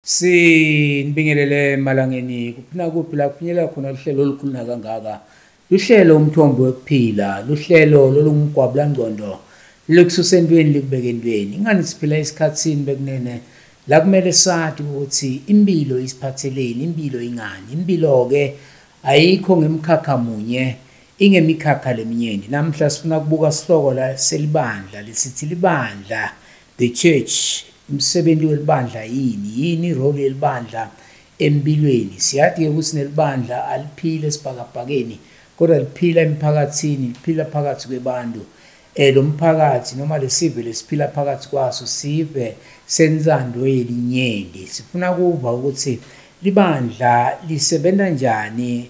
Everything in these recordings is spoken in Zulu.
Sinibingelele emalangeni kuphina kuphi la kuphinyelela khona luhlelo olukhuluna kangaka luhlelo umthombo wokuphila luhlelo lolungumgwabulangqondo likususa entweni likubeke entweni ingani siphila esikhathini bekunene la kumele sathi ukuthi impilo isiphatheleni impilo ingani impilo-ke ayikho ngemkhakha munye ingemikhakha leminyeni namhla sifuna kubuka sihloko la selibandla lisithi libandla The church, umsebenzi welibandla yini? Yini irole yelibandla empilweni? Siyathi ke ukuthi nelibandla aliphile esibhakabhakeni kodwa liphila emphakathini, liphila phakathi kwebantu. Eh lo mphakathi noma lesive lesiphila phakathi kwaso sive sensando yelinyenti. Sifuna kuva ukuthi libandla lisebenza njani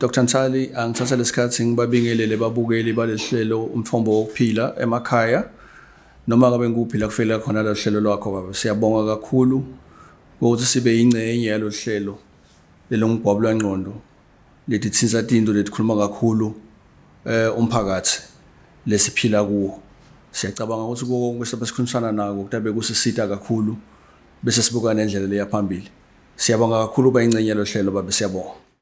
Dr Nsali angithatha lesikhathi ngibabingelele babukeli balesihlelo umthombo wokuphila emakhaya noma ngabe ngikuphi la kufela khona lo hlelo lwakho baba siyabonga kakhulu ukuthi sibe yingcenye yalo hlelo lelongigwabo lwangqondo lethi thinsa tinto letikhuluma kakhulu eh umphakathi lesiphila kuwo siyacabanga ukuthi konke sobe sikhulumisana nako kutabe kusisita kakhulu bese sibuka nendlela leya phambili siyabonga kakhulu bayingcenye lo hlelo babe siyabonga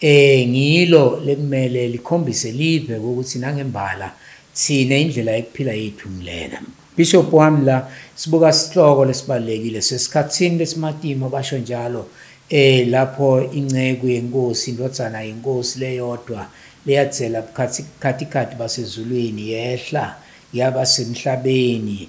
Eh ngilo lekumele likhombise live ukuthi nangembala sine indlela yokuphila yethu ngilena. Bishop wami la sibuka isihloko lesibalekile sesikhatsini lesimatimo basho njalo eh lapho inceku yenkosi indodzana yenkosi leyodwa leyatsela bukhathi khathi khathi basezulwini yehla yaba semhlabeni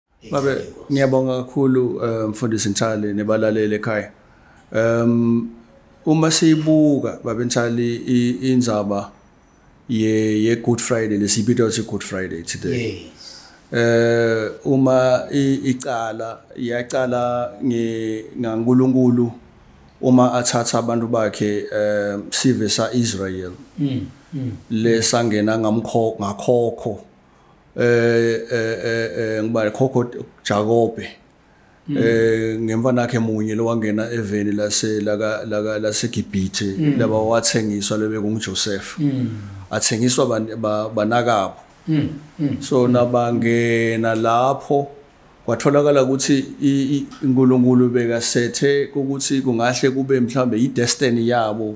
Babe ngiyabonga kakhulu eh, mfundisi Nthali nebalaleli ekhaya. Um uma siyibuka babe Nthali inzaba ye ye Good Friday lesibitwa ukuthi Good Friday today. Yes. Eh uma icala yacala nge ngaNkuluNkulu uma athatha abantu bakhe eh sive sa Israel. Mm. mm. Lesangena ngamkho ngakhokho. eh eh eh, eh ngibale khokho Jakobe hmm. eh ngemfana yakhe munye lowangena eveni lase laka laka laseGibhithe hmm. laba wathengiswa lebe kunguJoseph hmm. athengiswa banakabo so nabangena lapho kwatholakala ukuthi iNkulunkulu bekasethe ukuthi kungahle kube mhlambe idestiny yabo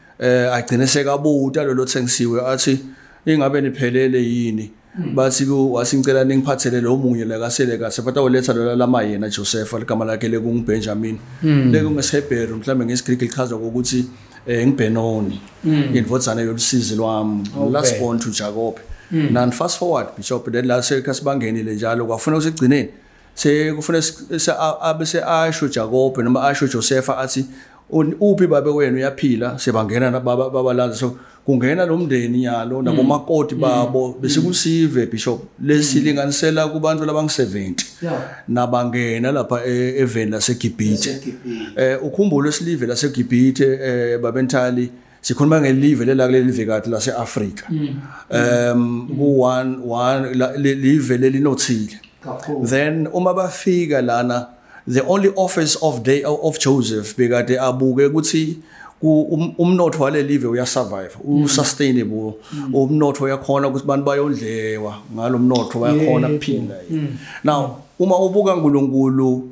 eh agcine sekabuta lelo thengisiwe athi ingabe niphelele yini hmm. bathi ku wasingicela ningiphathele lo munye la kasele kahle but awoletha lo lama yena Joseph ligama lakhe le kungu Benjamin hmm. le kungu Hebrew mhlambe ngesiGreek lichaza ukuthi eh ngiBenoni hmm. indvodzana yolusizi lwami last born to Jacob nan fast forward bishop then la sekasibangeni le njalo kwafuna usigcineni sekufuna abe seasho Jakobe noma asho Josefa athi uphi babe wenu uyaphila sebangena nababa babalanza so kungena nomndeni nyalo mm. nabomakoti mm. babo mm. bese kusive bishop lesilinganisela kubantu labang70 nabangena lapha e, eveni laseGibhithe eh ukhumbule silive laseGibhithe eh babentali sikhuluma ngelive lelakuleli livekathi lase-afrika mm. um live lelinothile then uma bafika lana the only office of day of joseph bekade abuke ukuthi Um, umnotho wale live uyasurvive mm. usustainable mm. umnotho uyakhona ukuthi abantu bayondlewa ngalo mnotho bayakhona kuphila mm. now uma ubuka uNkulunkulu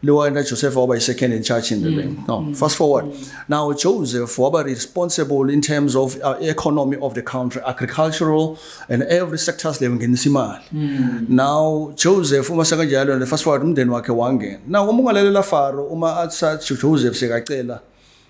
Lower and Joseph Oba is second in charge in the mm. bank. No, mm. fast forward. Mm. Now Joseph Oba is responsible in terms of uh, economy of the country, agricultural and every sectors level ngenisa imali. Mm. Now Joseph uma sekanjalo and fast forward umndeni wakhe wangena. Now uma ungalalela Faro uma atsa Joseph sekacela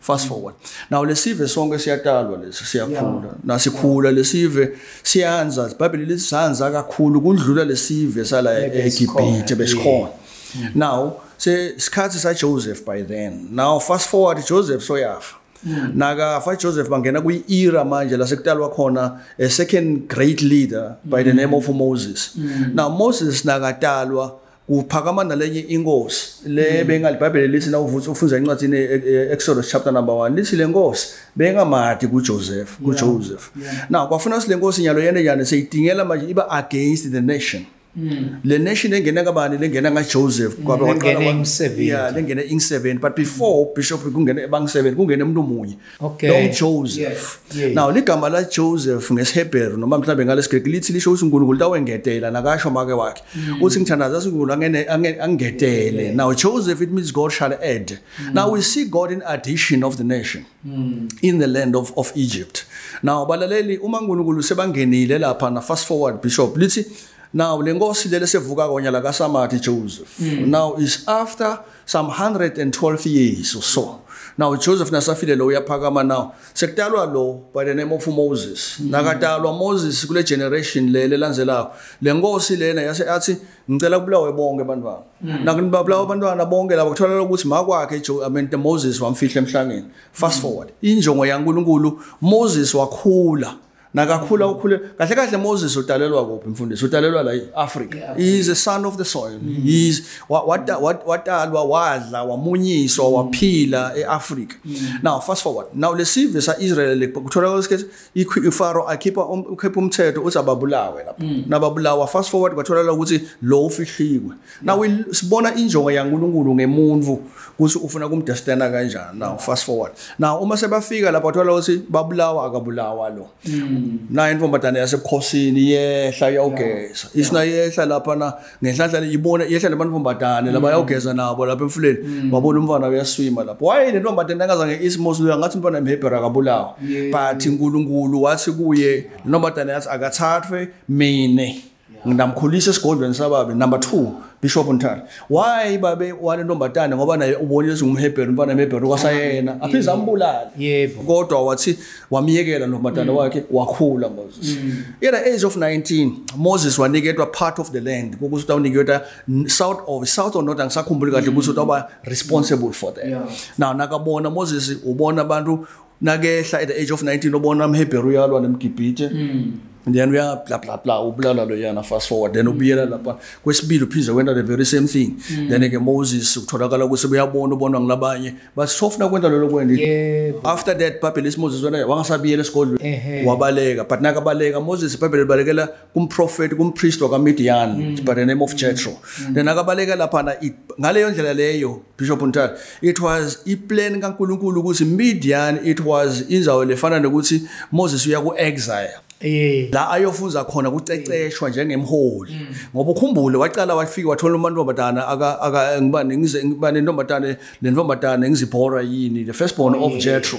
fast forward now lesive sonke siyatalwa lesi siyakhula nasikhula lesive siyanza ibhayibheli lithi sanza kakhulu kudlula lesive sala eGibhithe besikhona mm. now se sikhathi sa Joseph by then now fast forward Joseph soyafa mm. nakafa Joseph bangena kwi era manje lasekutalwa khona a second great leader by the mm. name of Moses now Moses nakatalwa kuphakama nalenye inkosi le mm. benga libhayibheli lithi na uvusa ufunza incwadi ne e, e, Exodus chapter number 1 lithi lenkosi benga mati ku Joseph ku Joseph na kwafuna sile nkosi nyalo yene yana seyitingela manje iba against the nation mm. le nation engena kabani lengena nga Joseph mm. kwabe waqala umsebenzi yeah lengena insebenzi but before bishop kungena ebang sebenzi kungena umuntu omunye Okay. Long Joseph. Yes. Yeah. Now ligama la Joseph ngesiHebheru noma mhlawumbe ngalesiGreki lithi lisho ukuthi uNkulunkulu tawengetela nakasho make wakhe. Mm. Uthi ngithandaza uNkulunkulu angene angetele. Now Joseph it means God shall add. Mm. Now we see God in addition of the nation mm. in the land of of Egypt. Now balaleli uma uNkulunkulu sebangenile lapha na fast forward bishop lithi now lenkosi lele sevuka konya la kaSamathi Joseph. Mm. Now is after some 112 years or so now joseph nasafile lo uyaphakama now sekutalwa lo by the name of moses nakatalwa moses kule generation le lelandzelako le nkosi lena yase athi ngicela kubulawe bonke abantwana mm. nakunibabulawa abantwana bonke labo kutholakala ukuthi makwakhe amente moses wamfihla emhlangeni fast mm. forward injongo yankulunkulu moses wakhula nakakhula ukhule kahle kahle Moses utalelwa kuphi mfundisi utalelwa la eAfrica yeah. he is a son of the soil mm. he is watalwa wadla wamunyiswa mm. waphila eAfrica mm. now fast forward now lesive sa Israel lekuthola kwesikhathi iFaro akhipha um, ukhipha umthetho uthi ababulawe lapha mm. nababulawa fast forward kwatholakala ukuthi lo ufihliwe Now sibona injongo yaNkulunkulu ngemuntu ukuthi ufuna kumdestana kanjani. Now fast forward. Now uma sebafika lapha uthola ukuthi babulawa akabulawa lo. Hmm. Na intombazane yasebukhosini yehla yawugeza. Isina yehla lapha na ngenhlanhla ibona yehla labantombazane laba hmm. yawugeza nabo lapha emfuleni. Hmm. Babona umfana uyaswima lapha. Why le ntombazane angazange isimosi lo ngathi umfana emhebhera akabulawa. But uNkulunkulu wathi kuye le ntombazane yathi akathathwe mina. nginamkhulisa esigodlweni sababe number 2 bishop ntari why babe wale ntombatane ngoba naye ubonile singumhebheru mfana emhebheru kwasayena mm. aphiza ambulala yebo kodwa wathi wamyekela ntombatane mm. wakhe wakhula moses mm. yena age of 19 moses waniketwa part of the land ukuthi utawuniketwa south of south or north angisakhumbuli kahle ukuthi utawuba responsible for that now nakabona moses ubona abantu nakehla at the age of 19 obona amhebheru uyalwa nemgibhithe mm. and then uya bla bla bla ubulala lo yana fast forward then ubuyela lapha kwesibili uphinde kwenta the very same thing mm. then ke Moses kutholakala ukuthi uyabona ubonwa ngilabanye but sofuna kwenta lelo kwenda yeah. after that Bible is Moses wena wangasabiyela esigodlweni wabaleka but nakabaleka Moses Bible libalekela kumprofeti kumpriest wakamidiyani mm. by the name of jetro mm. then akabaleka laphana ngaleyo ndlela leyo bishop ntata it was iplan kankulunkulu ukuthi midiyani it was inzawo lefana nokuthi moses uya ku-exile Yeah. la ayofunza khona kuceceshwa njengemholi mm. ngoba ukhumbule waqala wafika wathola umantombazana aka aka ngibani ngize ngibani intombazana lentombazana ngizibhora yini the first born oh, of yeah. Jethro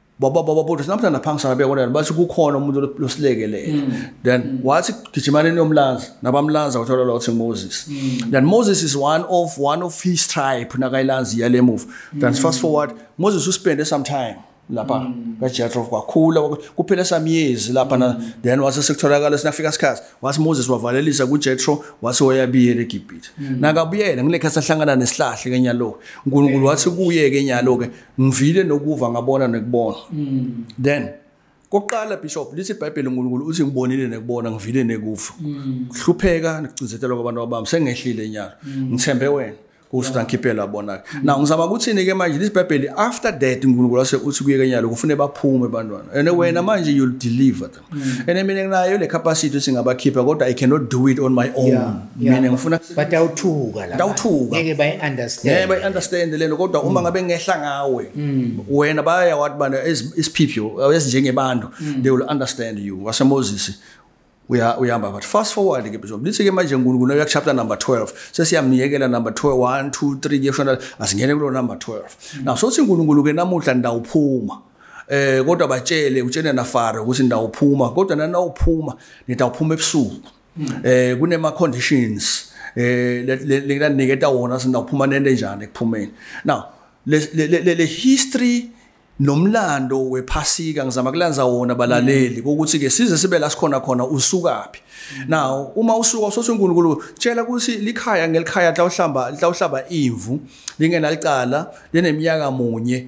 baba baba baba sinamhlanje phansi sabe kodwa bathi kukhona umuntu losilekelele mm. then mm. wathi gijimaneni yomlanza nabamlanza wathola lo uthi Moses mm. then Moses is one of one of his tribe nakayilanzi yale move then fast forward Moses uspende some time lapha mm. kaJethro kwakhula kuphela samyezi lapha na mm. then wase sekutholakala sinafika sikhathi wase Moses wavalelisa kuJethro wase wayabiyela eGibhithe mm. nakabuyela ngilekhe sahlangana nesihlahle kenyalo uNkulunkulu wathi kuye kenyalo ke ngivile nokuva ngabona nekubona mm. then kokuqala bishop lithi ibhayibheli unkulunkulu uthi ngibonile nekubona ngivile nekufa mm. hlupheka nikucinzetelwa kwabantu abami sengehlile nyalo mm. ngithembe wena kusuta ngikhiphela bona-ke mm. na ngizama ukuthini-ke manje lesi bhayibheli after that unkulunkulu ase uthi kuye kenyalo kufune baphume bantwana and wena manje you'll deliver Mm. And I mean nayo le capacity singabakhipha kodwa I cannot do it on my own. Yeah, yeah. Mina ngifuna but awuthuka la. Awuthuka. Ngeke bay understand. Ngeke bay understand lento kodwa mm. uma ngabe ngehla ngawe mm. wena baya wathi bana isiphipho ezinjengebantu mm. they will understand you. Wase Moses uya uyamba but fast forward ke bizo lithi ke manje uNkulunkulu uya chapter number 12 sesiyamyekela number 12 1 2 3 ke shona asingene kulo number 12 mm. now sothi uNkulunkulu ke namuhla ndawuphuma eh kodwa batshele utshene na fare ukuthi ndawuphuma kodwa nana uphuma nitawuphuma ebusuku hmm. eh kunema conditions eh lekuniketa wona sindawuphuma nento enjani ekuphumeni now le le history nomlando wephasika ngizama kulanza wona balaleli mm. ukuthi ke size sibe la sikhona khona usukaphi mm. now uma usuka usothi uNkulunkulu tshela ukuthi likhaya ngelikhaya hla uhlamba hla uhlaba imvu lingenalicala leneminyaka munye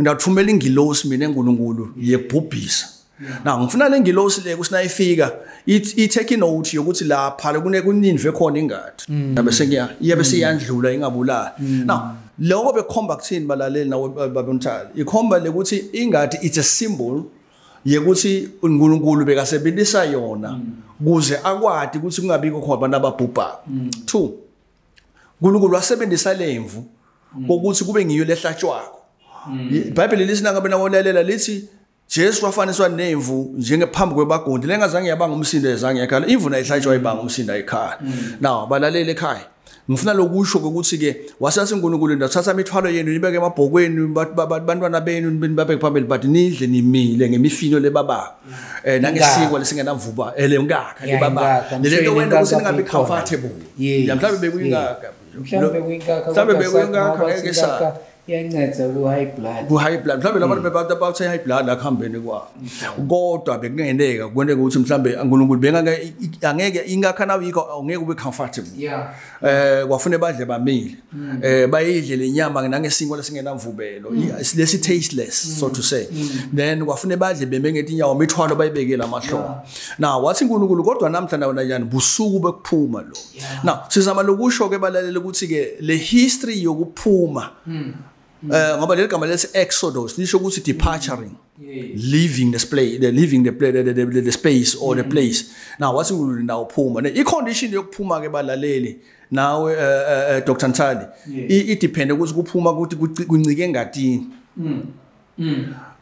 Ngiyathumela ingilosi mina eNkulunkulu yebhubhisa. Na ngifuna le ngilosi le kusinayifika i-take note yokuthi lapha kune kuninve khona ingadi. Mm. Yabe sengiya yabe seyandlula ingabulala. Mm. Na lokho bekhomba kuthini balaleli nawe babonthali. Ikhomba lekuthi ingadi it's a symbol yekuthi uNkulunkulu bekasebenzisa yona mm. kuze akwadi ukuthi kungabikho khona abantu ababhubha. 2 uNkulunkulu wasebenzisa lemvu mm. ukuthi kube ngiyo lehlatshwako mm. ibhayibheli lithi nangabe nawolalela lithi Jesu wafaniswa nemvu njengephambi kwebagundi lengazange yabanga umsindo ezange yakhala imvu nayihlatshwa mm. ibanga umsindo ayikhaya now balalele ekhaya ngifuna lokusho ukuthi ke wasase uNkulunkulu ndathatha imithwalo yenu nibeke emabhokweni bantwana benu nibabeke phambili but nidle nimile ngemifino lebabanga eh nangesiko lesingenamvuba ele eh, ngaka libaba lento wena ukuthi ningabe comfortable ya mhlawumbe bekuyingaka mhlawumbe bekuyingaka mhlawumbe bekuyingaka ngeke sa yanceda ku high blood ku high blood mhlawumbe labantu hmm. bebantu abathe high blood akuhambeni kwa hmm. kodwa bekungeneka kwenteka ukuthi mhlawumbe uNkulunkulu bengake angeke ingakha nawe yikho angeke ube comfortable yeah eh kwafune badle bamile mm. eh bayidle lenyama nangesingo lesingenamvubelo mm. lesi tasteless mm. so to say then kwafune badle beme ngethi inyawo mithwalo bayibekela amahloko now wathi uNkulunkulu kodwa namhla nawo njani busuku bekuphuma lo now sizama lokusho ke balalela ukuthi ke le history yokuphuma Mm. Eh ngoba leli gama lesi exodus lisho ukuthi departuring. Leaving the space, the leaving the, the, the, the, the space or the mm. place. Now wathi ngulule ndawo phuma. Ne i condition yokuphuma ke balaleli nawe uh, eh, uh, eh, Dr Ntali. I depend ukuthi kuphuma ukuthi kuncike engatini. Mm. Mm.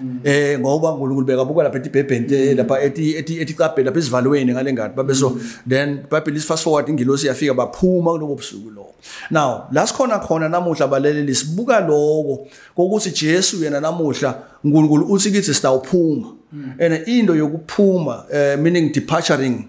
Mm. eh ngoba uNkulunkulu bekabuka lapha etibhebhente mm. lapha eti eti eticabhe lapha esivalweni ngale ngadi babe so mm. then bible is fast forward ingilosi yafika baphuma kulobo busuku lo now la sikhona khona namuhla baleleli sibuka lokho kokuthi Jesu yena namuhla uNkulunkulu uthi kithi sitawuphuma and into yokuphuma eh, meaning departuring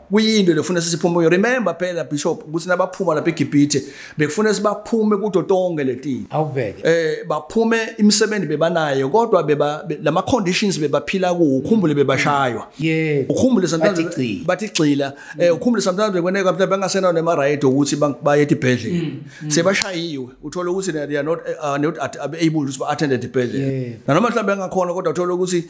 kuyinto lefuna sisiphume remember phela bishop ukuthi nabaphuma lapha eGibhithe bekufuna sibaphume kudo tonke letini awuveke eh baphume imisebenzi bebanayo kodwa beba lama conditions bebaphila ku ukhumbule bebashaywa yeah ukhumbule sometimes bathi gcila eh mm. ukhumbule sometimes bekweneka mhlawumbe bangasena nema right ukuthi baye edibhedlela mm, mm. sebashayiwe uthola ukuthi they are not uh, not able to attend edibhedlela nanoma mhlawumbe angakhona kodwa uthola ukuthi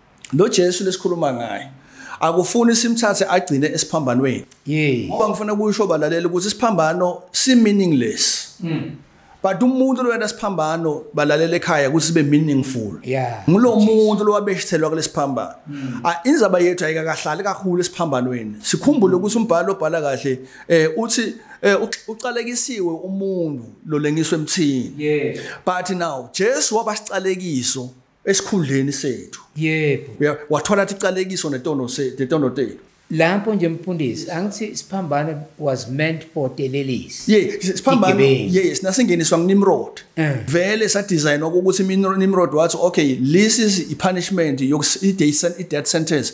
lo Jesu lesikhuluma ngaye akufuni simthathe agcine esiphambanweni yey ngoba ngifuna kusho balalela ukuthi isiphambano si meaningless mm. but umuntu loyena siphambano balalela ekhaya ukuthi sibe meaningful yeah ngulo muntu lowabeshithelwa kulesiphambano mm. Ah, inzaba yethu ayikakahlali kakhulu esiphambanweni sikhumbule ukuthi umbhalo obhala kahle eh uthi eh uqalekisiwe umuntu lolengiswe emthini yeah but now Jesu wabasiqalekiso esikhundleni sethu yebo yeah. wathola athi calekiso netono se netono tenu lapho nje mfundisi angithi siphambane was meant for delelisi yeah siphambane yes nasingeniswa nginimrod eh. vele sa design ukuthi nimrod wathi okay this is i punishment i death sentence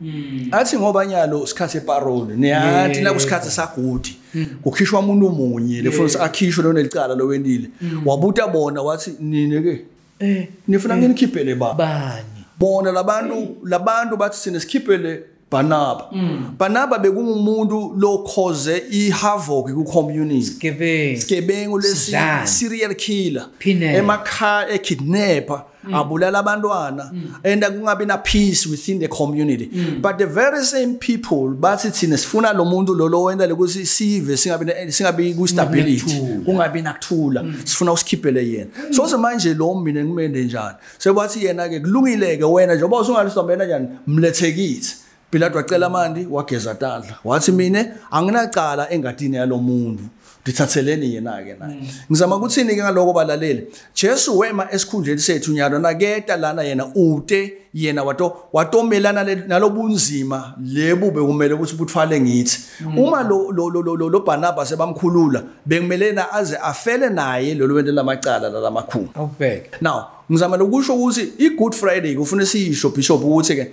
Mm. athi ngoba nyalo isikhathi separole niyathi la kusikhathi sagudi mm. kukhishwa umuntu omunye lefuna yeah. akhishwe lona licala lowenile mm. wabuta bona wathi nini ke eh nifuna eh. nginikhiphele ba bani bona labantu labantu bathi sine sikhiphele Banaba mm. Banaba bekungumuntu lo cause i havoc ku community sigebengu sigebengu lesi serial killer emakha e kidnapper mm. abulala abantwana mm. and kungabi na peace within the community mm. but the very same people bathi thina sifuna lo muntu lo lowenza lokuthi sive singabi singabi ku stability kungabi nakuthula mm. sifuna usikhiphele yena mm. so so manje lo mina ngimende njani sebathi yena ke kulungile ke wena njengoba usungalisombena njani mlethe kithi Pilate wacela amanti wageza tandla wathi mina anginacala engatini yalomuntu ndithatheleni yena-ke naye mm. ngizama ukuthini-ke ngaloko balaleli jesu wema esikhundleni sethu nyalo naketa lana yena ute yena wato watomelana nalobunzima lebu bekumele ukuthi buthwale ngithi mm. uma lo lo lo lo lo Barnabas ebamkhulula bekumele na aze afele naye lolu wento lamacala lalamakhulu awubheke now ngizama lokusho ukuthi i good friday kufuna siyisho bishop ukuthi ke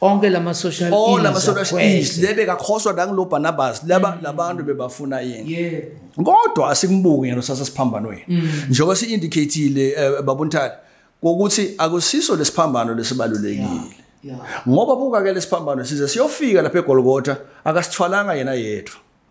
onke lama social all lama social is lebe kakhoswa nangulo Barnabas laba mm. labantu bebafuna yini yeah kodwa asikumubuki ngelo sasa siphambanweni mm. njengoba si indicatele eh, babuntali ukuthi akusiso lesiphambano lesibalulekile ngoba buka ke lesiphambano size siyofika lapha eGolgotha akasithwalanga yena yedwa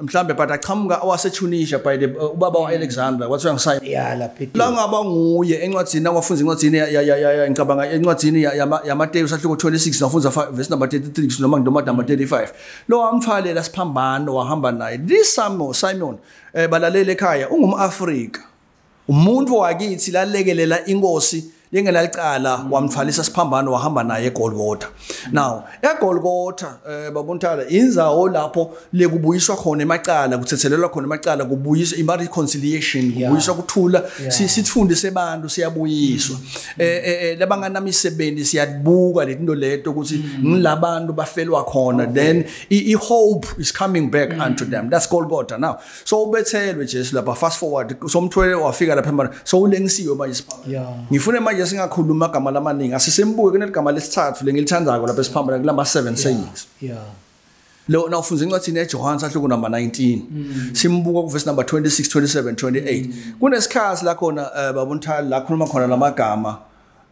mhlambe but aqhamuka waseTunisia by the uh, ubaba waAlexandra wathi uyangisaya yeah lapha la ngaba nguye encwadini awafunza incwadini ngicabanga encwadini yaMateyu sahluko 26 nafunza verse number 33 noma ngidoma number 35 lo wamfalela siphambano wahamba naye this Simon Simon eh balalele ekhaya ungumAfrika umuntu wakithi lalekelela inkosi lingenalicala mm. wamthwalisa siphambano wahamba naye egolgotha now egolgotha um eh, babontala inzawo lapho lekubuyiswa khona emacala kuthethelelwa khona emacala kubuyiswa imba reconciliation kubuyiswa kuthula sifundise abantu siyabuyiswa um mm. eh, eh, labanganamisebenzi siyabuka letinto leto ukuthi mm. ngilabantu bafelwa khona then i-hope is coming back unto them that's golgotha now so ubethelwe Jesu lapha fast forward somthwele wafika lapha manje so ulengisiwe manje siphambili ngifune manje singakhuluma amagama lamaningi asisembuke kuneligama lesithathu lengilithandako lapha esiphambili kulama 7 sayings yeah lo na ufunza incwadi eJohane sahluko number 19 mm. simbuka ku verse number 26 27 28 kunesikhathi la khona eh, babunthali la khuluma khona lamagama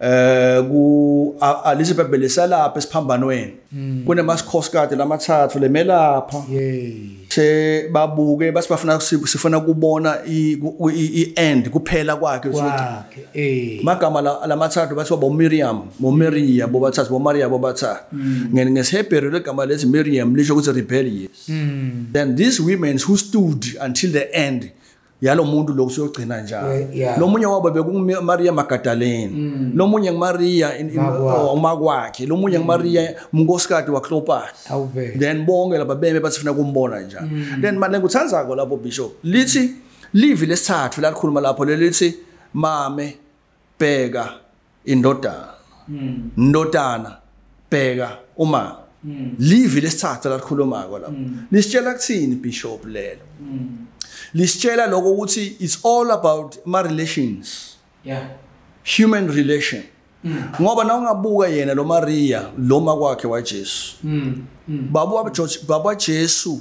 eh ku alise bebele salapha esiphambanweni hmm. kunemasikhosikazi lamathathu lemelapha se babuke basibafuna sifuna kubona i end kuphela kwakhe kwakhe eh magama lamathathu bathi bo Miriam bo Maria bo bathathu bo Maria bo bathathu hmm. ngene ngesihebheru legama lethi Miriam lisho ukuthi rebellious hmm. then these women who stood until the end yalo muntu lo usuyogcina njalo We- yeah. lo munye wabo bekungumariya magadaleni Mm. lo munye ngumariya in- in- Makwakhe. umakwakhe lo munye ngumariya umnkosikati waklopani awube then bonke laba beme bathi funa kumbona njalo Mm. then manje nguthandzako lapho bishop lithi livi lesithathu lalikhuluma lapho lelithi mame bheka indodana hmm. ndodana bheka uma hmm. livi lesithathu lakhulumako lapho hmm. lisitshela kuthini bishop lelo lisitshela lokho ukuthi it's all about ma relations yeah human relation ngoba na ungabuka yena lo Maria lo makwakhe waJesu baba waJesu baba Jesu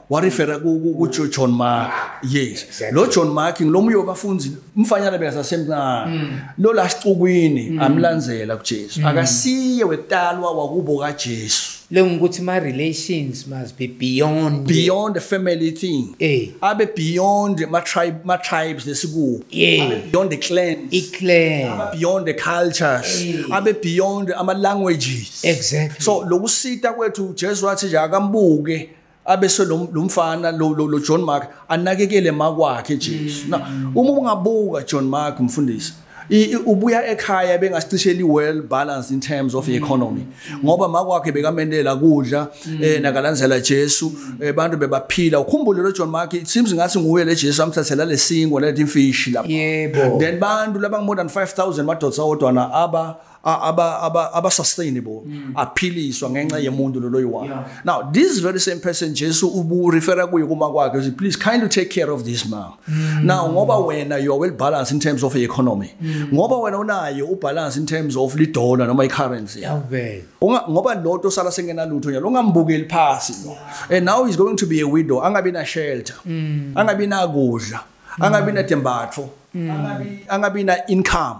warefera kujohn mark yes lo john mark ngiloma uyobafundi umfanyana bekasasemncane mm. lo la sicukwini mm. amlandzela kujesu mm. akasiye wekutalwa wakubo kajesu le ngukuthi ma-relations must be beyond beyond the family thing eh. abe beyond ma-tribe ma-tribes lesikuwo yeah. abe beyond the clans i-clan abe beyond the cultures eh. abe beyond ama-languages exactly so lokusita kwethu ujesu wathi nje akambuke abese lo mfana lo lo John Mark anakekele makwakhe Jesu mm. na uma ungabuka John Mark mfundisi ubuya ekhaya bengasicisheli well balance in terms of mm. economy ngoba makwakhe bekamendela kudla mm. eh nakalandzela Jesu eh, abantu bebaphila ukhumbule lo John Mark it seems ngathi nguye le Jesu amthathela lesingo lethi imfishi lapha yebo then bantu laba more than 5000 madoda awodwana aba aba aba aba sustainable mm. aphiliswa ngenxa yemuntu lolo yiwani yeah. now this very same person Jesu ubu refer kuye kuma kwakhe uthi please kindly take care of this man mm. now ngoba wena you are well balanced in terms of economy mm. ngoba wena unaye u balance in terms of li dollar noma i currency yeah. unga ngoba lotho sala sengena lutho nyalo ungambukeli phasi lo yeah. and now he's going to be a widow angabi na shelter mm. angabi na kudla angabi na tembatho mm. angabi angabi na income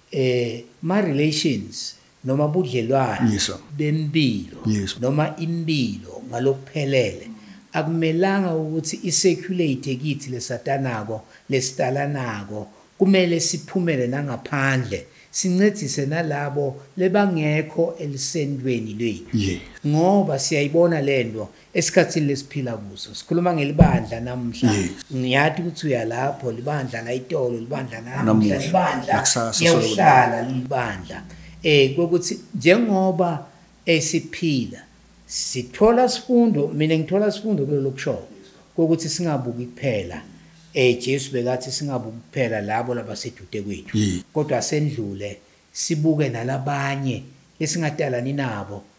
eh ma relations noma budlelwane yes, bempilo yes. noma impilo ngalokuphelele akumelanga ukuthi isecurate kithi lesatanako lesidalanako kumele siphumele nangaphandle sincedise nalabo lebangekho elisendweni lwethu ngoba siyayibona lento esikhathini lesiphila kuso sikhuluma ngelibandla namhla ngiyathi ukuthi uya lapho libandla la itolo libandla namhla libandla yakuhlala libandla eh kokuthi njengoba esiphila sithola sifundo mina ngithola sifundo kulelo kusho kokuthi singabuki kuphela eh Jesu bekathi singabuki kuphela labo labasedude kwethu kodwa sendlule sibuke nalabanye esingadalani nabo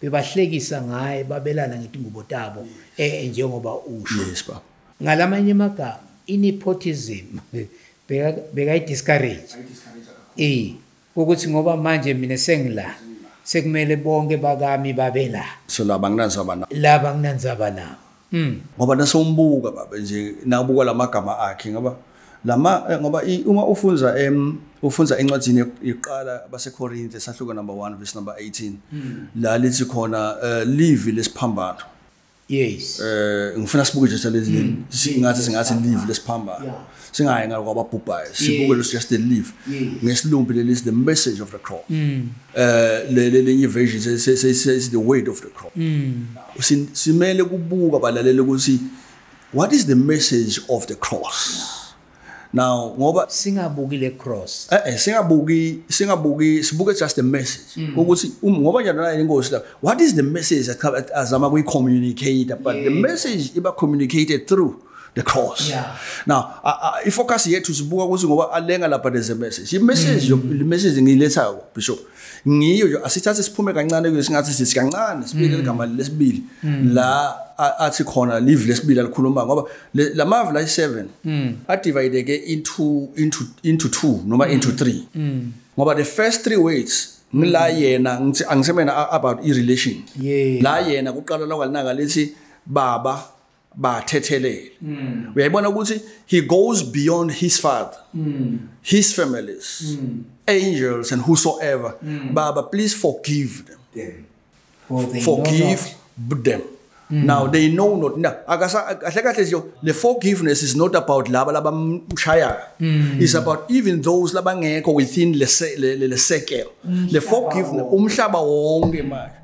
Bebahlekisa ngaye babelana ngetingubo tabo eh njengoba usho. Yes baba. Ngalamanye amagama inepotism beka beka discourage. Eh ukuthi ngoba manje mina sengila sekumele bonke bakami babe la. So laba nginanzaba nabo. Laba nginanzaba nabo. Mm. Ngoba nasombuka baba nje nabuka lamagama akhe ngoba lama eh, ngoba uma ufunza em ufunza encwadini yokuqala baseKorinte sahluko number 1 verse number 18 hmm. la lithi khona eh, livi lesiphambano yes eh ngifuna sibuke nje lezi hmm. singathi singathi livi lesiphambano singayi ngalo kwababhubhayo sibuke lo suggested leave ngesilumbi leli is the message of the crop mm. eh leli lenye version say say say is the weight of the crop mm. simele kubuka balalele ukuthi what is the message of the cross now ngoba singabuki le cross eh eh singabuki singabuki sibuke just the message mm. ukuthi um, ngoba nje nayo inkosi la what is the message azama kuyi communicate but the message iba communicated through the cross yeah. now ifocus yethu sibuka ukuthi ngoba alenga lapha there's a message imessage mm. le message ngiyilethayo bishop ngiyo nje asithathe siphume kancane kuyo singathi sithi kancane sibike mm. igama lesibili mm. la athi khona live lesibili alikhuluma ngoba lamavi la 7 mm. adivide ke into into into 2 noma mm. into 3 mm. ngoba the first three weights ngila mm. yena ngithi angisemena about i relation yeah. la yena kuqala lokwalinaka lithi baba bathethelele mm. uyayibona ukuthi he goes beyond his father mm. his families mm. angels and whosoever mm. baba please forgive them, them. For they forgive them Mm. Now they know not now akasa kahle kahle nje le forgiveness is not about laba labamshaya. Mm. It's about even those labangekho within le le sekel. Le forgiveness umhlaba wonke manje.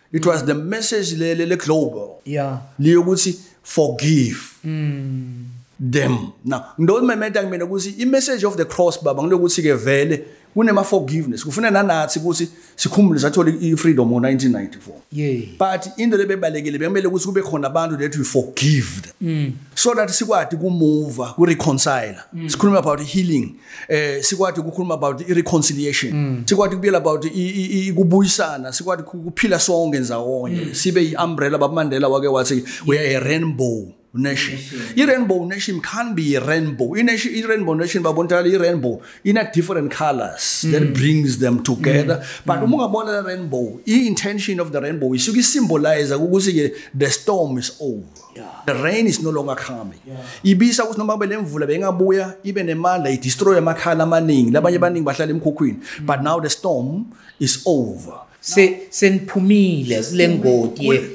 it was the message le le global yeah liyokuthi forgive mm them now ndo mementa kumina ukuthi i message of the cross baba ngilokuthi ke vele kunema forgiveness kufuna nanathi ukuthi sikhumbule sathola i freedom ngo 1994 yeah but into lebebalekile bekumele ukuthi kube khona abantu that we forgive them mm. so that sikwadi ku move ku reconcile mm. sikhuluma about healing eh sikwati ukukhuluma about i reconciliation mm. sikwati kubuyela about ikubuyisana sikwati ukuphila sonke ndzawonye mm. sibe i umbrella babamandela wake wathi we are a rainbow nation i rainbow nation can be a rainbow in nation i rainbow nation babontala i rainbow in a different colors mm. that brings them together mm. but mm. uma ungabona le rainbow i intention of the rainbow isuke symbolize ukuthi the storm is over the rain is no longer coming ibisa ukuthi noma kube lemvula bengabuya ibe nemandla i destroy amakhala amaningi labanye baningi bahlala emkhukhwini but now the storm is over se seniphumile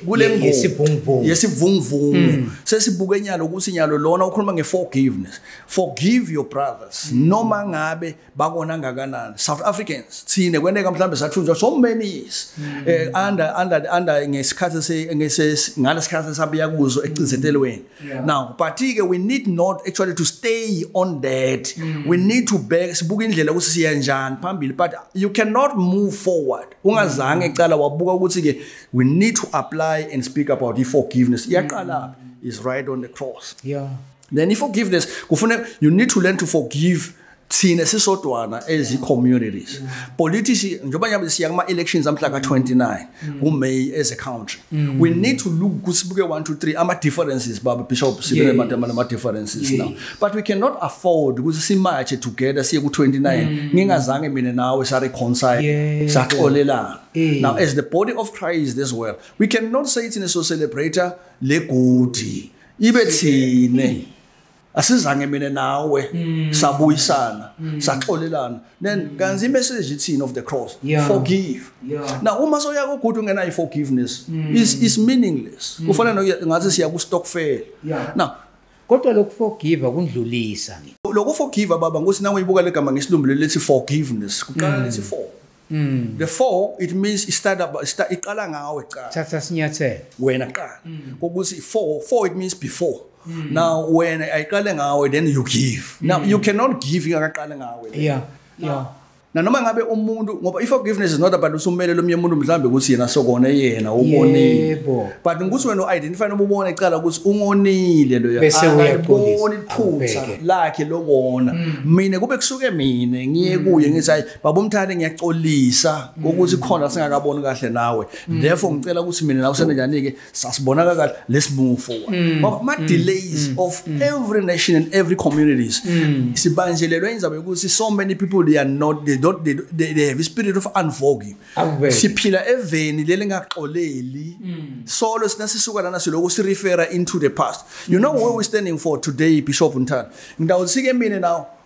kulengodi yesivunguvungu yesivunguvungu mm. sesibuke nyalo ukuthi nyalo lona ukhuluma ngeforgiveness forgive your brothers mm. noma ngabe bakona ngakanani south africans thine kweneka mhlawumbe sathunjwa so many mm. eh under under under ngesikhathi se ngese ngalesikhathi sabuya kuzo ecinzetelweni mm. now but ke we need not actually to stay on that mm. we need to back sibuka indlela ukuthi siya njani phambili but you cannot move forward ungazange ecala wabuka ukuthi ke we need to apply and speak about the forgiveness iyaqala is right on the cross yeah then i forgiveness kufuneka you need to learn to forgive thina sisodwana as i-communities politics njengoba nyabe siya kuma-elections amhla ka-29 kumay as a country mm. we need to look kusibuke 1 2 3 ama-differences baba bishop sibenama-differences now but we cannot afford ukuthi simatshe together siye ku-29 mm. ngingazange mina nawe sareconcile saxolelana now as the body of christ as well we cannot say thina so celebrator legodi ibe thine asizange mina nawe mm. sabuyisana mm. saxolelana then mm. kanzi imessage ithini of the cross yeah. forgive yeah. now uma soya ku good ungena i forgiveness mm. is is meaningless mm. kufanele ngathi siya ku stockfel yeah. now kodwa lokuforgive kundlulisa ngi lokuforgive baba ngosi nangu ibuka legama ngesilumbulo lethi forgiveness kuqala mm. lethi for Mm. The four it means it start up start iqala ngawe cha. Thatha sinyathelo. Wena qala. Mm. Ukuthi four four it means before. Mm. Now when I ayiqale ngawe then you give. Mm. Now you cannot give ingakaqale ngawe. Yeah. Now, yeah. na noma ngabe umuntu ngoba if forgiveness is not about usumele lomnye umuntu mhlambe ukuthi yena sokona yena ubonile but ukuthi wena uidentify noma ubone icala ukuthi ungonile loya bese uyabona iphutha lakhe lokona mm. mina kube kusuke mina ngiye mm. kuye ngithi babomthande ngiyaxolisa ukuthi khona singakaboni kahle nawe mm. therefore ngicela ukuthi mina nawe senjani ke sasibona kahle let's move forward mm. ngoba ama mm. delays of every nation and every communities sibanjelelwe indaba yokuthi so many people they are not they don't they, they, they have a spirit of unforgiving siphila eveni leli ngaxoleli solo sina sisuka lana siloku si refer into the past you know where we standing for today bishop Ntana ngidawusike mina now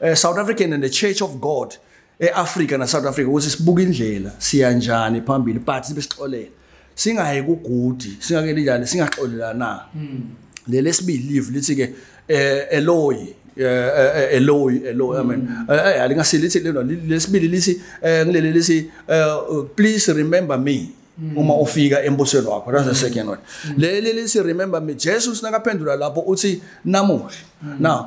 eh, South African and the Church of God eAfrica na South Africa ukuthi sibuka indlela siya njani phambili but sibe sixolela singayi kugudi singakeli njani singaxolelana hmm. le lesibili live lithi ke eh, eloyi eloyi eh, eloyi amen hmm. eh, alingasile lithi lelo lesibili lithi ngilele lithi please remember me hmm. uma ufika embusweni wakho that's the second one leli lithi remember me Jesus nakaphendula lapho uthi namuhla now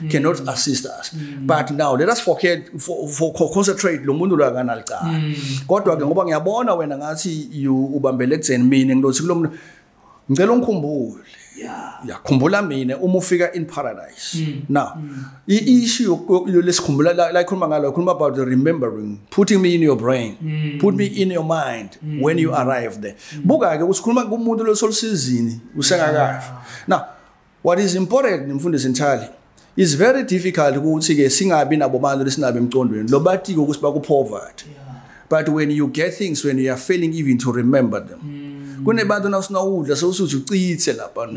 mm. cannot assist us mm. but now let us forget for, for concentrate lo muntu lakanalcala mm. kodwa ke ngoba ngiyabona wena ngathi you ubambele kuzen mina ngilothi kulo muntu ngicela ungikhumbule yakhumbula mina uma ufika in paradise mm. now mm. i-issue lesikhumbula la ikhuluma ngalo ikhuluma about the remembering putting me in your brain mm. put me in your mind mm. when you arrive there mm. buka-ke usikhuluma kumuntu losolusizini usengakafa yeah. now What is important mfundisi Nthali is very difficult ukuthi ke singabi nabo bantu lesinabe emcondweni lo batike ukuthi bakupoverty but when you get things when you are failing even to remember them mm. kunebantu nawusina udla sewusuthi ucithe lapha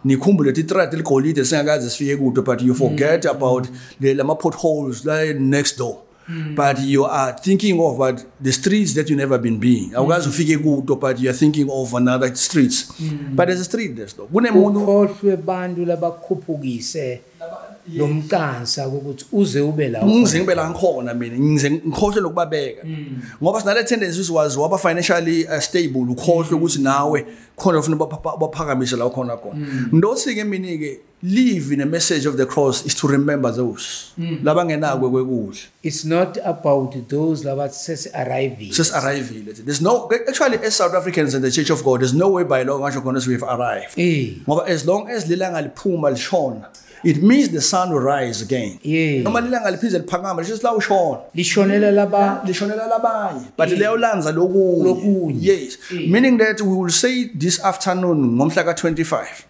nikhumbule ukuthi itrad ligolide singakaze sifike kude but you forget mm. about lama potholes la next door Mm. But you are thinking of but the streets that you never been being. Mm. Awukazi ufike kuto but you are thinking of another streets. Mm. But there's a street there's though. Kunemuntu ukhohlwe abantu labakhuphukise lomqansa ukuthi uze ube la. Ngize ngibe la ngikhona mina. Ngize ngikhohlwe lokubabeka. Mm. Ngoba sinale tendency siwazi waba financially uh, stable ukhohlwe mm. ukuthi nawe khona ufuna baphakamise la ukhona khona. Ndothi mm. ke mina ke Leave in a message of the cross is to remember those mm. labangenakwe kwekudla. It's not about those labathi sesi arriving. Sesi arriving. There's no actually as South Africans in the Church of God there's no way by law ngasho khona we have arrived. Eh. Ngoba as long as lilanga liphuma lishona it means the sun will rise again noma lilanga liphinde liphakama lisho silawu shona lishonela laba lishonela labanye but leyo lanza lokunye yes meaning that we will say this afternoon ngomhla ka 25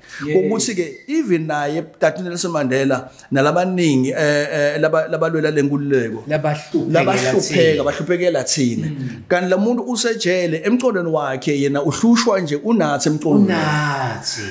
ukuthi ke even naye Dr Nelson Mandela nalabaningi eh, eh labalwela lenkululeko labahlupheka bahluphekela thina mm. kanti lamuntu usejele emqondweni wakhe yena uhlushwa nje unathi emqondweni unathi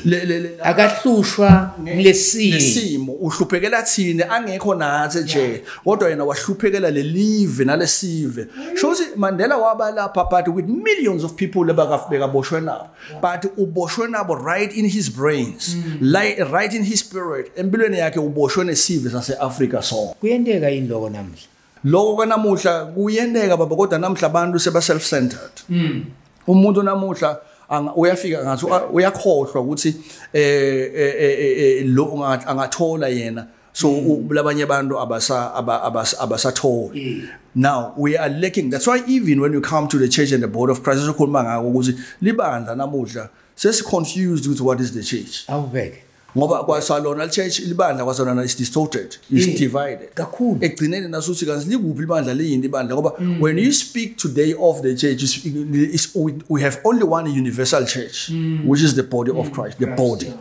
akahlushwa lesimo uhluphekela thina angekho nathi nje kodwa yena wahluphekela lelive nalesive mm. shothi Mandela waba lapha but with millions of people abakafika boshwe nabo but uboshwe nabo right in his brains mm. like, right in his spirit empilweni yakhe uboshwe nesive sase-afrika so kuyenteka yini loko namuhla loko kanamuhla kuyenteka baba kodwa namuhla abantu seba-self-centered mm. umuntu namuhla uyafika ngathi uyakhohlwa ukuthi eh, eh, eh, eh, eh lo angathola yena so mm. labanye abantu abasa abasa abasatholi mm. now we are lacking that's why even when you come to the church and the board of Christ sokhuluma ngako ukuthi libandla namuhla sesi confused with what is the church awubeke ngoba kwasalona church libandla kwasalona is distorted is mm. divided kakhulu egcineni nasuthi kanti likuphi libandla liyini ibandla ngoba mm. when you speak today of the church is, is, we, we have only one universal church mm. which is the body mm. of Christ the Christ, body yeah.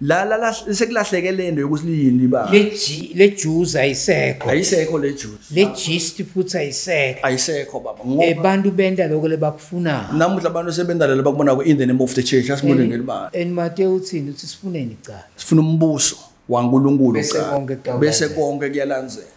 la la la sekulahleke lento yokuthi liyini liba le G le juice ayisekho ayisekho le juice le gist futhi ayisekho ayisekho baba ngoba abantu benda lokho lebakufuna namuhla abantu sebenda lelo bakubona ku in the name of the church asimule ngelibala and mate uthini uthi sifuneni cha sifuna umbuso waNkulunkulu cha bese konke kuyalandzela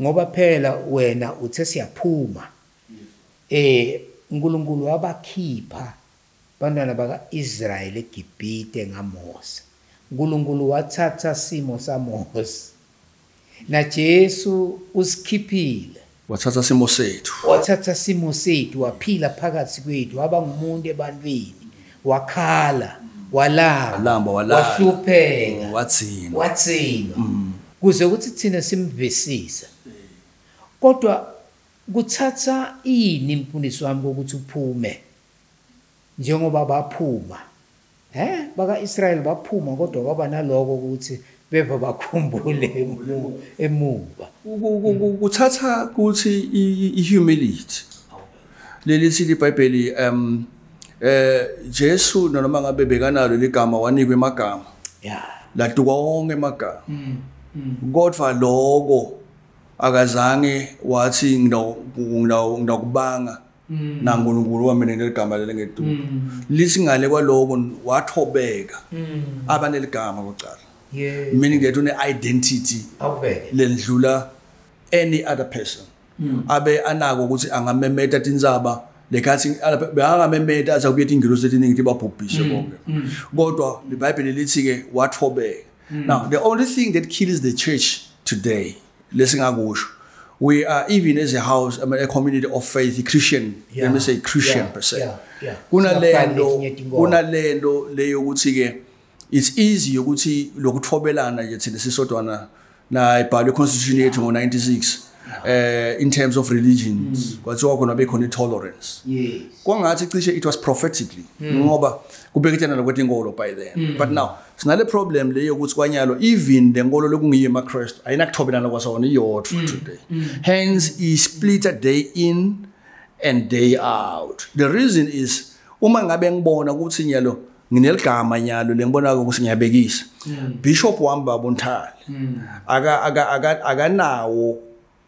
Ngoba phela wena uthe siyaphuma. Eh uNkulunkulu wabakhipha bantwana baka-Israyeli eGibhite ngaMose. UNkulunkulu wathatha simo saMose. NaJesu usikhiphile. Wathatha simo sethu. Wathatha simo sethu waphila phakathi kwethu waba ngumuntu ebantwini. wakhala walamba Walamba, walala. wahlupheka Wathina. wathina kuze ukuthi thina simvisisa kodwa kuthatha ini mfundisi wami kokuthi uphume njengoba baphuma he baka-israyeli baphuma kodwa kwaba naloko ukuthi beva bakhumbule emumva kuthatha kuthi i-humility leli sithi ibhayibheli um eh Jesu noma ngabe bekanalo ligama wanikwe amagama yeah laduka wonke amagama mm, mm. kodwa lokho akazange wathi ngidakubanga mm. nankulunkulu wamina leli gama leli ngeduku mm. lithi ngale kwaloko wathobeka mm. abaneli gama kucala yeah. meaning that une-identity lendlula any other person mm. abe anako ukuthi angamemeta tintsaba lekhathi bekangamemeta athi akubuye tingilosi etiningi tibabhubhishe mm. bonke mm. kodwa libhayibheli lithi-ke wathobeka mm. now the only thing that kills the church today lesingakusho we are even as a house I mean, a community of faith Christian yeah. let me say Christian yeah. per se yeah. yeah. kunalento kunalento leyo ukuthi ke it's easy ukuthi lokuthobelana nje thina sisodwana na ibhalwe constitution yethu ngo 96 eh in terms of religions mm. kwathiwa khona bekhona tolerance kwangathi cishe it was prophetically mm. ngoba kubekethana lokwethi inkolo by then mm. but now sinale problem le yokuthi kwanyalo even le nkolo lokungiyo emakristu ayinakuthobelana kwasona iyodwa mm. today mm. hence isplitter day in and day out the reason is uma ngabe ngibona ukuthi nyalo ngineligama nyalo lengibona ukuthi ngiyabekisa mm. bishop wami babonthali mm. aka aka akanawo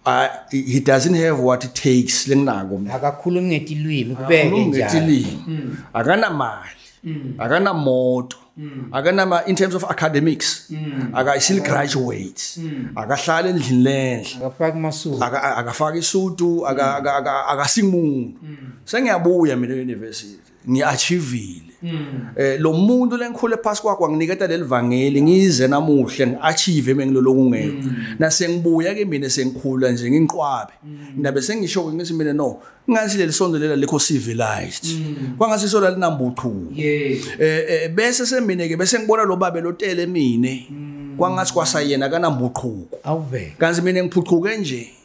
Uh, he doesn't have what it takes lenginako mina akakhulumi ngetilwimi kubeke njalo ngetilwimi mm. akanamali mm. akanamoto mm. akanama in terms of academics mm. akayisili mm. graduate mm. akahlala endlini lenhle akafaki masuku akafaki isudu akasimuntu mm. mm. sengiyabuya mina university ngiachievile mm. eh lo muntu lengikhule phansi kwakho anginiketa lelivangeli ngize namuhle ngiachieve mengilolo kungekho mm. nase ngibuya ke mina sengikhula nje nginqwabe mm. ndabe sengisho ke ngithi mina no ngathi leli sonto lela likho civilized kwangase isola linambuthu eh, eh bese semine ke bese ngibona lo babe lotele mina kwangathi kwasayena kanambuqhuko awuvele kanti mina ngiphuquke nje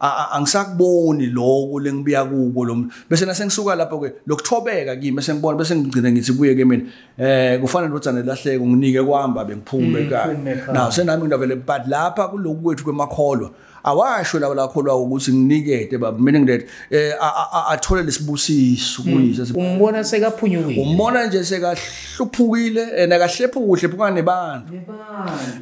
angisakuboni lokho lengibuya kubo lo bese nasengisuka lapho ke lokuthobeka kimi bese ngibona bese ngigcina ngithi buye ke mina eh kufana nodozana lahleke nginike kwamba bengiphume ekhaya mm, na senami ngavele but lapha kuloku kwethu kwemakholwa awasho lawo lakholwa ukuthi nginikete baba meaning that eh athole lesibusiso mm. kuyise umbona sekaphunyukile umbona nje sekahluphukile and akahlephukuhle phukane bantu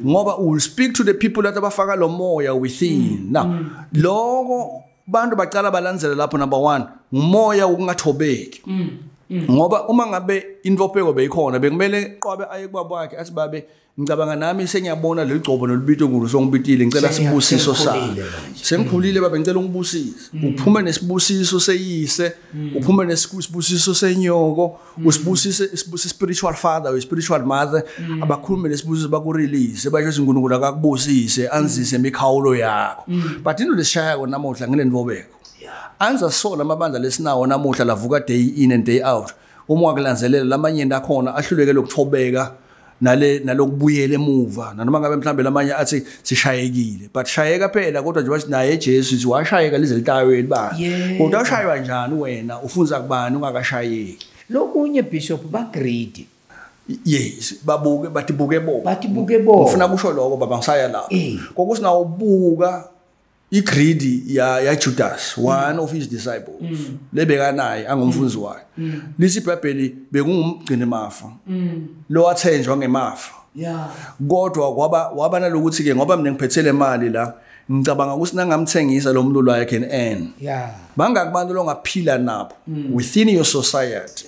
ngoba u will speak to the people that abafaka lo moya within mm. now mm. lokho bantu bacala balandzela lapho number 1 ngumoya wokungathobeki mm. Mm. ngoba uma ngabe intopheko beyikhona bekumele qwabe aye kubaba wakhe athi babe ngicabanga nami sengiyabona leli gcobo nolubito ngulu songibitile ngicela sibusiso sami sengikhulile baba ngicela ungibusise mm. uphume nesibusiso seyise mm. uphume nesibusiso senyoko Mm. usibusise sibuse spiritual father or spiritual mother mm. abakhulume lesibuzo bakurelease basho ukuthi uNkulunkulu akakubusise anzise mm. imikhawulo yakho but into lesishaya kona namuhla ngile nivobeko anza sola amabandla lesinawo namuhla lavuka day in and day out uma wakulanzelela lamanye akhona ahluleke lokuthobeka nale nalokubuyela emuva nanoma ngabe mhlambe lamanye athi sishayekile but shayeka phela kodwa nje wathi naye Jesu sithi washayeka lize litayweni ba kodwa ushaywa njani wena ufunza kubani ungakashayeki lokunye bishop ba greedy yes babuke bathi buke bo bathi buke bo ufuna kusho lokho baba ngisaya lapho eh. kokusinawo buka igridi ya ya Judas one of his disciples mm. lebeka naye angumfunzi mm. wakhe mm. lisi iBhayibheli bekungumgcini mafa lo wathenjwa ngemafa yeah kodwa kwaba waba nalokuthi ke ngoba mina ngiphethele imali la ngicabanga ukuthi nangamthengisa lo mlulu I can earn yeah bangaki abantu longaphila nabo within your society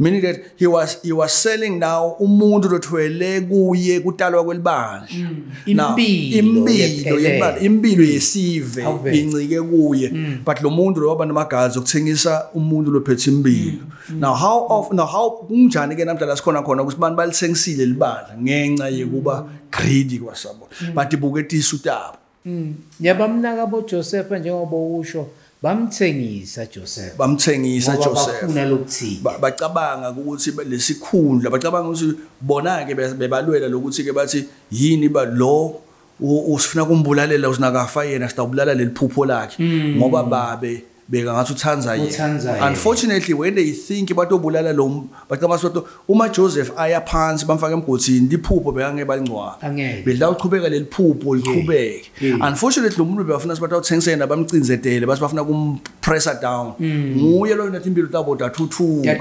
meaning that he was he was selling now umuntu lothwele kuye kutalwa kwelibandla mm. impilo yebandla impilo mm. yesive incike kuye mm. but lo muntu lo waba namagazi okuthengisa umuntu lophethe impilo now how of now how kunjani ke namdla la sikhona khona ukuthi abantu balithengisile libandla ngenxa yekuba greedy kwasabona but ibuketisa utaba Mm. Yabamnaka bo Joseph njengoba usho bamthengisa Joseph. Bamthengisa Joseph. Bafuna lokuthini? Bacabanga ukuthi lesikhundla bacabanga ukuthi bona ke bebalwela lokuthi ke bathi yini ba lo usifuna kumbulalela usinakafa yena sitawubulala leliphupho lakhe mm. ngoba babe beka ngathi uthanda yena unfortunately when they think batobulala lo bacabanga ukuthi uma Joseph aya phansi bamfaka emgodini liphupho bekangeke balingcwaba bedla uqhubeka leliphupho liqhubeke unfortunately umuntu bebafuna sibathi awuthengise yena bamcinzetele bathi bafuna kum pressure down mm. nguye loyo nathi impilo tabo dathuthuka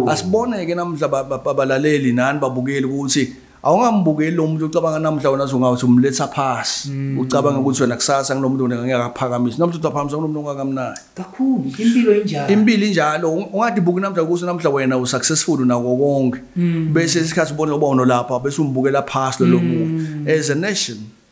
asiboneke namhla babalaleli nani babukeli ukuthi awungambukeli lo muntu ucabanga namhla wena zongathi umletha phasi mm. ucabanga ukuthi wena kusasa kunomuntu wena ngeke akaphakamisa namhla utaphamisa kunomuntu ongakamnayo kakhulu impilo injalo impilo injalo ungathi buki namhla kuso namhla wena u successful unako konke mm. bese isikhathi ubona uba unolapha bese umbukela phasi lo mm. muntu as a nation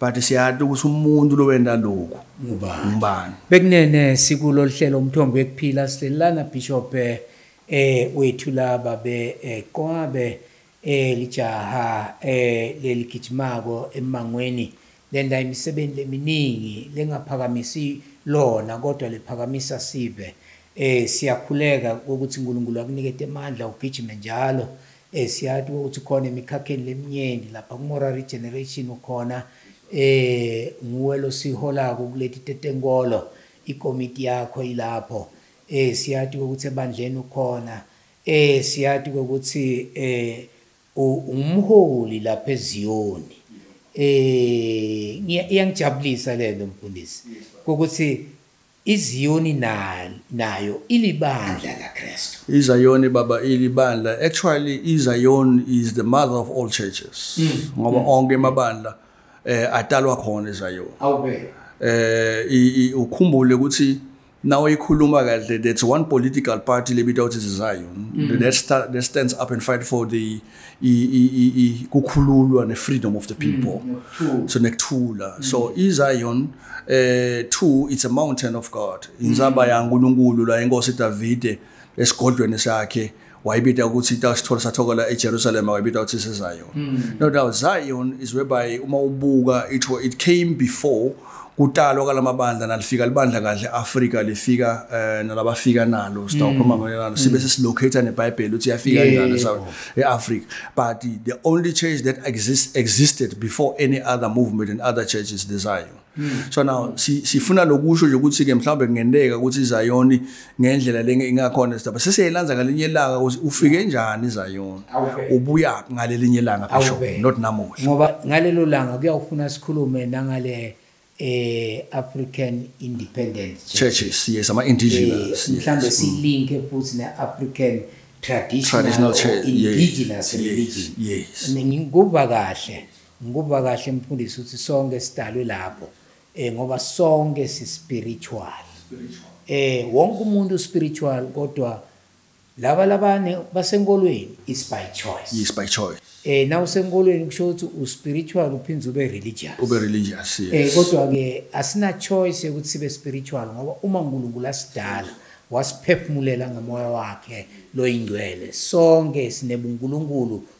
but siyati ukuthi umuntu lowenda lokhu ngubani bekunene sikulo lihlelo umthombo wekuphila silelana bishop eh wethu laba be eh, qwabe eh lijaha eh leligijimako emangweni lenda imisebenzi leminingi lengaphakamisi lona kodwa liphakamisa sive eh siyakhuleka ukuthi uNkulunkulu akunike amandla ugijime njalo Eh siyati ukuthi khona emikhakheni leminyeni lapha kumora regeneration ukhona eh nguwe losiholako kuleti tetenkolo ikomiti yakho ilapho eh siyati ukuthi ebandleni ukhona eh siyati ukuthi eh umholi lapha eZiyoni eh iyangijabulisa lento mfundisi ukuthi IZiyoni nayo ilibandla laKristu. IZayoni baba ilibandla. Actually iZayon is the mother of all churches. Hmm. Ngoba hmm. onke amabandla eh atalwa khona eZayon. Awubeka. Eh ukhumbule ukuthi nawe ikhuluma kahle that's one political party lebitawuthi iZayon. Hmm. That stands up and fight for the kukhululwa ne-freedom of the people mm, so nekuthula mm. so izion eh two it's a mountain of god inzaba mm. yankulunkulu la inkosi davide esigodlweni sakhe wayibita ukuthi itasithole sathokela ejerusalem wayibita ukuthi sizion mm. no doubt zion is whereby uma ubuka it, it came before kutalwa kwalamabandla nalifika libandla kahle Africa lifika eh nalabafika nalo sitawukhuluma mm. ngolelana mm. sibe sesilocate neBhayibheli uthi yafika kanjani South eAfrica but the only church that exists existed before any other movement and other churches desire mm. so now sifuna lokusho nje ukuthi ke mhlawumbe kungenteka ukuthi iZion ngendlela le ingakhona sidaba sesiyelanza ngalinye ilanga ukuthi ufike njani izayona ubuya ngalelinye ilanga phesho not namuhla ngoba ngalelo langa kuyawufuna sikhulume nangale eh African Independent Churches yes ama indigenous eh, mhlambe silinke futhi ne African traditional indigenous religion yes ngikuba kahle ngikuba kahle mfundisi ukuthi sonke sidalwe lapho Eh ngoba sonke si spiritual. Spiritual. Eh wonke umuntu spiritual kodwa laba labane basenkolweni is by choice. Is by choice. Eh na usenkolweni kusho ukuthi u spiritual uphindze ube religious. Ube religious. Yes. Eh kodwa ke asina choice ukuthi sibe spiritual ngoba uma uNkulunkulu asidala wasiphefumulela ngomoya wakhe loyingcwele sonke sinebunkulunkulu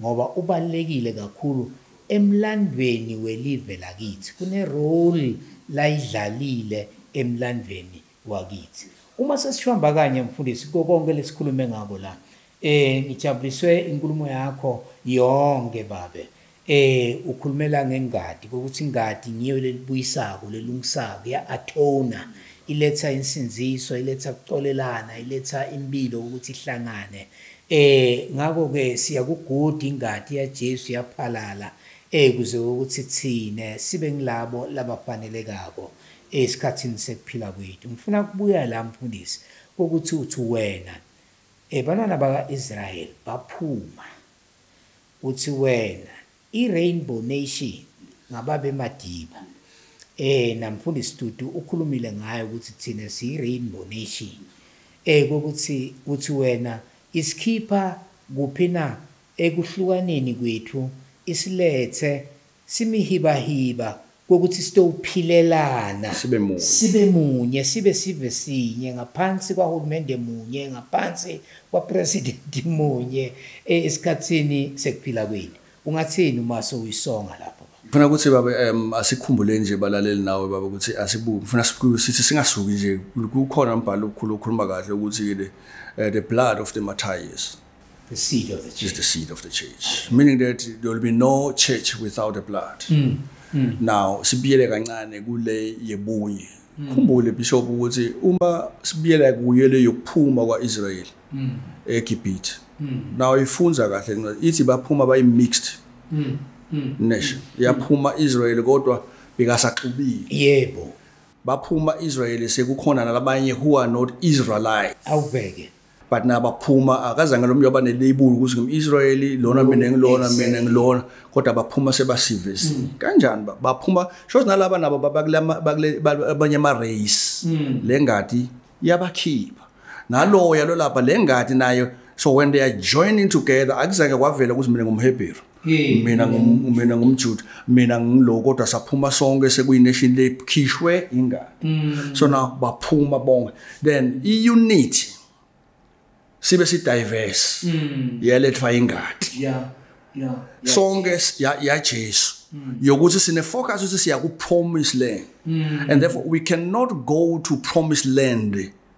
ngoba ubalulekile kakhulu emlandweni welive lakithi kune role layidlalile emlandweni wakithi uma sesihamba kanye mfundisi kokonke lesikhulume ngako la eh ngijabuliswe inkulumo yakho yonke babe eh ukhulumela ngengadi ukuthi ingadi ngiyo lelibuyisako lelungisako ya atona iletha insinziso iletha kuxolelana iletha impilo ukuthi ihlangane Eh ngakho ke siyakuguda ingadi yaJesu yaphalala eh kuze ukuthi thina sibe ngilabo labafanelekako esikhathini sekuphila kwethu. Ngifuna kubuya la mfundisi ukuthi uthi wena eh bantwana baka-Israel baphuma uthi wena I-Rainbow Nation ngababe Madiba. Eh namfundisi Tutu ukhulumile ngayo ukuthi thina siyi Rainbow Nation. Eh kokuthi uthi wena isikhipha kuphi na ekuhlukaneni kwethu isilethe simihibahiba kokuthi sitophilelana sibe munye sibe munye sibe sive sinye ngaphansi kwahulumende munye ngaphansi kwapresident munye e, esikhathini sekuphila kwini ungathini uma sowuyisonga lapho ngifuna ukuthi baba um asikhumbuleni nje balaleli nawe baba ukuthi asibuki ngifuna sithi singasuki nje kukhona umbhalo okhulu okhuluma kahle ukuthi-ke eh, the blood of the martyrs The seed of the church. Is the seed of the church. Meaning that there will be no church without the blood. Mm. Mm. Now sibiyele kancane kule yebunye. Mm. Khumbule bishop ukuthi uma sibiyela kuye le yokuphuma kwaIsrael mm. eGibhithe. Mm. Now ifunza kahle incwadi ithi baphuma bayi mixed. Mm. Mm. Nation. Yaphuma Israel kodwa bekasaxubile. Yebo. Baphuma Israel sekukhona nalabanye who are not Israelites. Awubheke. but nabaphuma akazange lo mntu abaneleyibuli ukuthi ngim-israyeli lona mina ngilona mina ngilona kodwa baphuma sebasivesi mm. kanjani baphuma shows nalaba nabo abanye ama-race mm. le ngadi iyabakhipha naloya lolapha le ngadi nayo so when they are joining together akuzange kwavela ukuthi mina ngumhebheru mina mina ngumjuda mina ngilo kodwa saphuma sonke sekuyination lekhishwe ingane mm. so na baphuma bonke then i unit sibe si diverse mm. yelethwa ingadi yeah yeah sonke ya ya Jesu mm. yokuthi sine focus ukuthi siya ku promise land and therefore we cannot go to promise land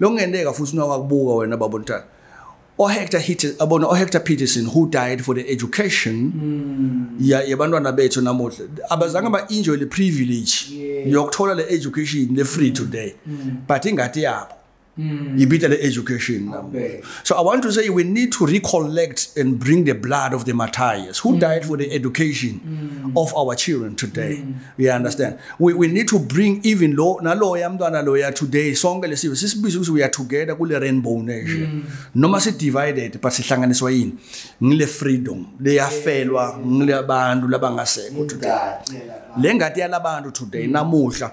Lokungenteka futhi unokwakubuka wena baba uNtana. OHector Hitter abona OHector Peterson who died for the education mm. ya yabantwana bethu namuhla abazange ba enjoy the privilege yeah. yokuthola le education le free today mm. but ingati yabo mm. ibita le education namuhla So I want to say we need to recollect and bring the blood of the martyrs who mm. died for the education mm. of our children today. Mm. You understand? We, we need to bring even lo naloya mntwana loya today sonke lesiwe sisibiza ukuthi we are together kule rainbow nation. Mm. Noma si divided but sihlanganiswa yini? Ngile freedom leyafelwa ngile abantu labangasekho today. Lengati yalabantu today mm. namuhla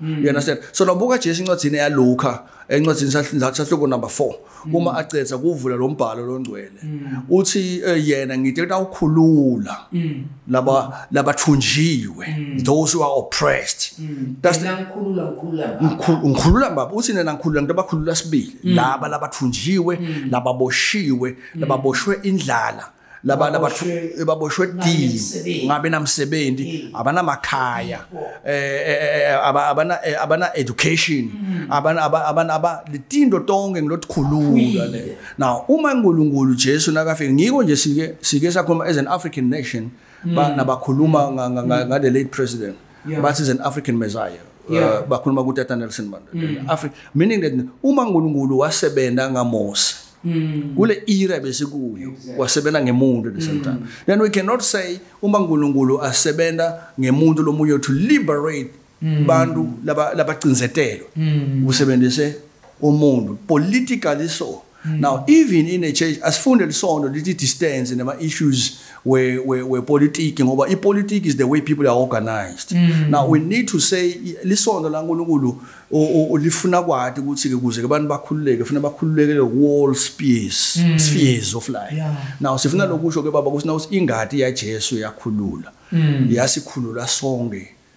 Mm. You understand? So lobuka Jesu incwadzini ya Luka, encwadzini sahluko number 4. Mm. Uma acetsa kuvula lo mbhalo longcwele. Mm. Uthi eh, yena ngithe utawukhulula mm. laba labathunjiwe, mm. those who are oppressed. Mm. That's the ngikhulula ngikhulula baba. Ngikhulula baba, uthi nena ngikhulula ngiba khulula sibili. Mm. Laba labathunjiwe, mm. lababoshiwe, mm. lababoshwe indlala. Mm. laba laba baboshwe dini ngabe namsebenzi abana makhaya eh, eh, eh, eh abana abana education mm. abana abana aba litindo tonke ngilotkhulula le now uma uNkulunkulu Jesu nakafika ngiko nje sike sike sakhuluma as an African nation mm. ba nabakhuluma mm. ngale late president yeah. bathi is an african messiah uh, yeah. uh, bakhuluma kutata nelson mandela mm. Afri meaning that uma nkulunkulu wasebenza ngamose Mm. kule era besikuyo exactly. wasebenza ngemuntu at the same mm. time then we cannot say uma nkulunkulu asebenza ngemuntu lomunye to liberate mm. bantu labacinzetelwe laba mm. usebenzise umuntu politically so Mm. Now even in a church asifunde lisondo lithi distance nema issues we we we politics ngoba i politics is the way people are organized. Mm. Now we need to say lisondo la uNkulunkulu olifuna kwati ukuthi ke kuze abantu bakhululeke ufuna bakhululeke wall space mm. spheres of life. Yeah. Now sifuna lokusho ke baba ukuthi na ingadi ya Jesu yakhulula. Mm. Yasikhulula sonke.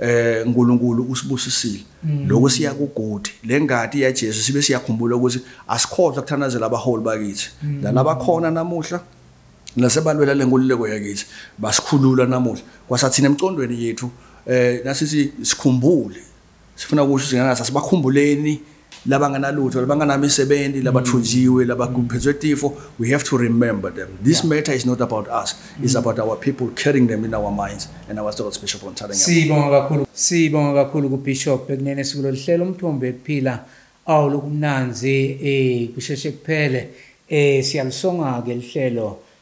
eh uNkulunkulu usibusisile mm. lokho siya kugodi lengadi ya Jesu sibe siyakhumbula ukuthi asikhohlwa kuthanazela abaholi bakithi mm. nalaba khona namuhla nasebalwela lenkululeko yakithi basikhulula namuhla kwasathina emcondweni yethu eh nasithi sikhumbule sifuna ukusho ukuthi ngana sasibakhumbuleni labanganalutho labanganamisebenzi mm. labathunjiwe labakuphethwe tifo we have to remember them this yeah. matter is not about us mm. it's about our people carrying them in our minds and our thoughts bishop onthathanga sibonga kakhulu sibonga kakhulu ku bishop ekunene sikulolu hlelo umthombo ekuphila awu lokumnanzi eh kusheshe kuphele eh siyalisonga ke lihlelo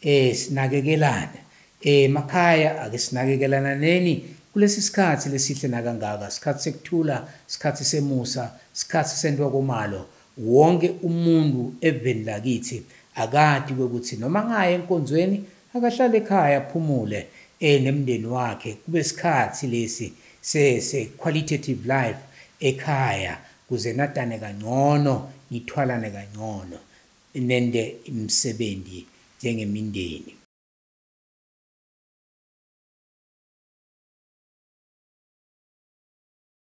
Eh sinakekelane. Eh makhaya ake sinakekelananeni kulesi sikhathi lesihle nakangaka, sikhathi sekuthula, sikhathi semusa, sikhathi sentwa komalo. Wonke umuntu eveni lakithi akati kwekuthi noma ngaya enkonzweni akahlale ekhaya aphumule eh nemndeni wakhe kube sikhathi lesi se se qualitative life ekhaya kuze natane kangcono nithwalane kangcono. Nente imisebenzi njengemindeni.